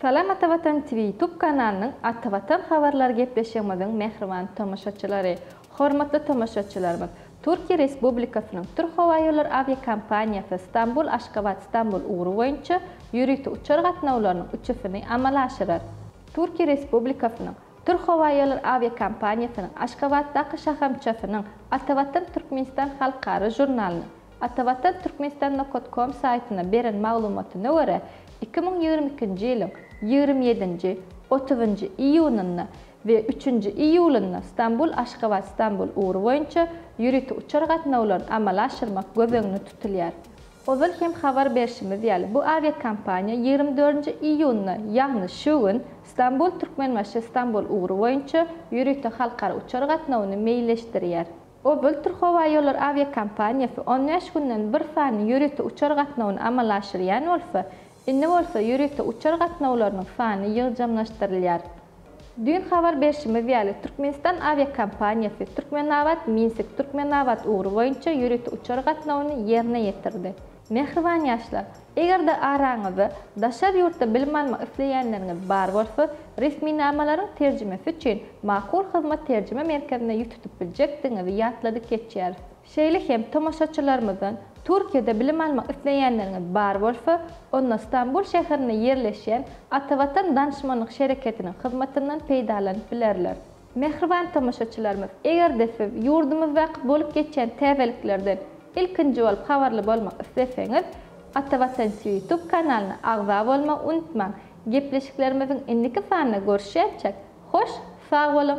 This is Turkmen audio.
Salam Atavatan TV YouTube kanalynyň Atavatan habarlary gepleşigimiziň mähriban tomaşaçylary! Hormatly tomaşaçylarymyz, Türkiýe Respublikasynyň Türk howa ýollary awiakompaniýasy Stambul-Aşgabat-Stambul ugry boýunça ýörite uçar gatnawlarynyň üçüsini amala aşyrar. Türkiýe Respublikasynyň Türkhowaýollary awiakompaniýasynyň Aşgabatdaky şahamçasynyň Atavatan Türkmenistan halkara žurnalynyň Atavatan Türkmenistan Nokot Kom saýtyna beren maglumatyna görä, iki müň ýigrimi ikinji ýylyň ýigrimi ýedinji, otuzynjy iýunynda we üçünji iýulynda Stambul-Aşgabat-Stambul ugry boýunça ýörite uçar gatnawlaryny amala aşyrmak göz öňünde tutulýar. Ozal hem habar berşimiz ýaly, bu awiakompaniýa ýigrimi dördünji iýunda, ýagny şu gün Stambul, Türkmenbaşy, Stambul ugry boýunça ýörite halkara uçar gatnawyny meýilleşdirýär. Obaltür howa ýollar awiakompaniýasy on bäş günden bir sany ýörite uçar gatnawyny amala aşyrýan bolsa, indi bolsa ýörite uçar gatnawlarynyň sany ýygjamlaşdyrylýar. Düýn habar berşimiz ýaly, Türkmenistan awiakompaniýasy Türkmenabat, Minsik, Türkmenabat ugry boýunça ýörite uçar gatnawyny ýerine ýetirdi. Mähriban ýaşlar! Eger-de araňyzda daşary ýurtda bilim almak isleýänleriňiz bar bolsa, resminamalaryň terjimesi üçin Makul Hyzmat terjime merkezine ýüz tutup biljekdigiňizi ýatladyp geçýäris. Şeýle hem tomaşaçylarymyzdan Türkiýede bilim almak isleýänleriňiz bar bolsa, onda Stambul şäherinde ýerleşýän Atavatan Danyşmanlyk Şereketiniň hyzmatyndan peýdalanyp bilerler. Mähriban tomaşaçylarymyz, eger-de siz ýurdumyzdaky bolup geçýän täzeliklerden ilkinji bolup habarly bolmak isleseňiz, Atavatanç YouTube kanalyna agza bolmagy unutmaň! Gepleşiklerimiziň indiki sanynda görüşýänçäk, hoş sag boluň!